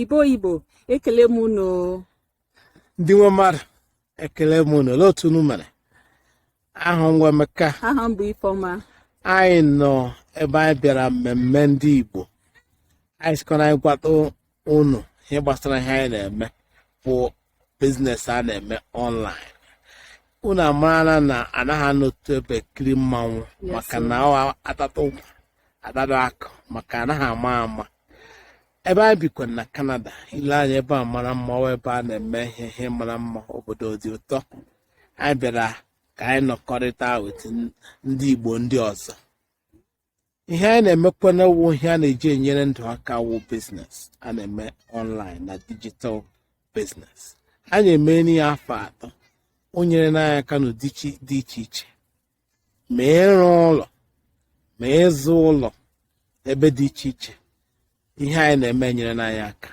Igbo Igbo ekele m unu ndị nwe mmadụ ekele m unu olee otu unu mere aha m wụ Emeka aha m bụ Ifeọma anyị nọ ebe anyị bịara mmemme ndị Igbo anyị sị ka anyị gwatụ unu ihe gbasara ihe anyị na-eme bụ biznes a na-eme ọnlaịn unu amarana na a naghị anọ otu ebe ekiri mmanwụ Yes, maka sir. na ọ wụ a tata ụgba a tata akụ maka a naghị ama ama ebe anyị bikwa na kanada i lee anya ebe a mara mma ọ wụ ebe a na-eme ihe ihe mara mma obodo dị ụtọ anyị bịara ka anyị nọkọrịta wit ndị igbo ndị ọzọ ihe anyị na-emekwanụ wụ ihe a na-eji enyere ndụ aka wụ biznes a na-eme ọnlaịn na dijital biznes anyị emeela ya afọ atọ o nyerena anyị aka n'ụdị chi- dị iche iche ma ịrụ ụlọ ma ịzụ ụlọ ebe dị iche iche ihe anyị na-eme enyerena anyị aka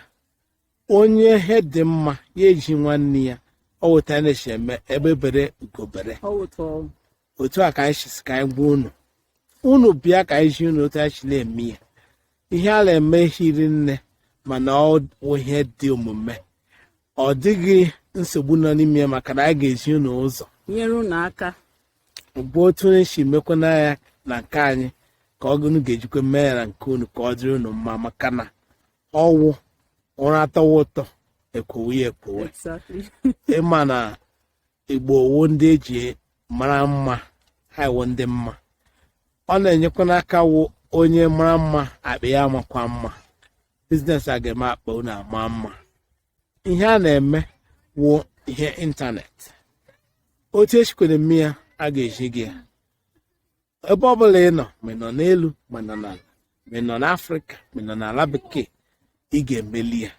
onye ihe dị mma ya ezi nwanne ya ọ wụ otu a na-esi eme egbe bere ugo bere Ọ wụtụ otu a ka anyị si sị ka anyị gwa unu unu bịa ka anyị zi unu otu anyị si na-eme ya ihe a na-eme hiri nne mana ọ bụ ihe dị omume ọ dịghị nsogbu nọ n'ime ya maka na anyị ga-ezi unu ụzọ nyere unu aka bụ otu anyị si mekwanụ ya na nke anyị ka unu ga-ejikwa mee ya na nke unu ka ọ dịrị unu mma maka na ọ wụ ụra tọwa ụtọ e kwowe ya ekwowe exactly ị ma na igbo wụ ndị e ji mara mma ha wụ ndị mma ọ na-enyekwanụ aka wụ onye mara mma akpa ya amakwa mma biznes a ga-eme akpa unu ama mma ihe a na-eme wụ ihe ịntanetị otu e sikwanụ eme ya a ga-ezi gị ya ebe ọ bụla ị nọ ma ị nọ n'elu ma ị nọ n'ala ma ị nọ n'afrịka ma ị nọ n'ala bekee ị ga-emeli ya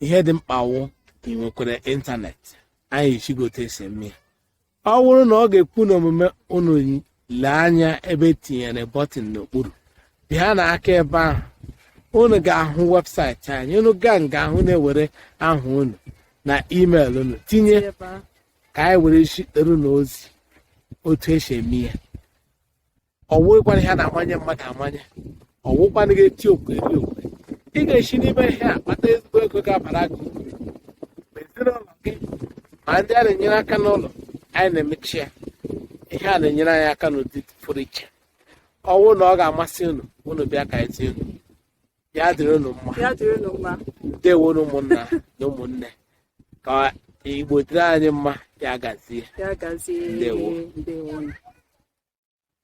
ihe dị mkpa wụ ka ị nwekwara ịntanetị anyị ezi gị otu e si eme ya ọ bụrụ na ọ ga-ekwe unu omume unu lee anya ebe e tinyere bọtịn n'okpuru pịanụ aka ebe ahụ unu ga-ahụ webụsaịtị anyị unu gaa nga ahụ unu ewere aha unu na email unu tinye ka anyị were zitere unu ozi otu e si eme ya ọ wụghịkwanụ ihe a na-amanye mmadụ amanye ọ wụkwanụghị eti okwe eri okwe ị ga-esi n'ime ihe a kpata ezigbo ego ga-abara gị uru ma ezinụlọ gị ma ndị a na-enyere aka n'ụlọ anyị na-emecha ya ihe a na-enyere anyị aka n'ụdị pụrụ iche ọ bụrụ na ọ ga-amasị unu unu bịa ka e zi unu ya dịrị unu mma ya dịrị unu mma ndewo unu ụmụnna na ụmụnne ka igbo dịrị anyị mma ya gazie ya gazie Ndewo. ndewo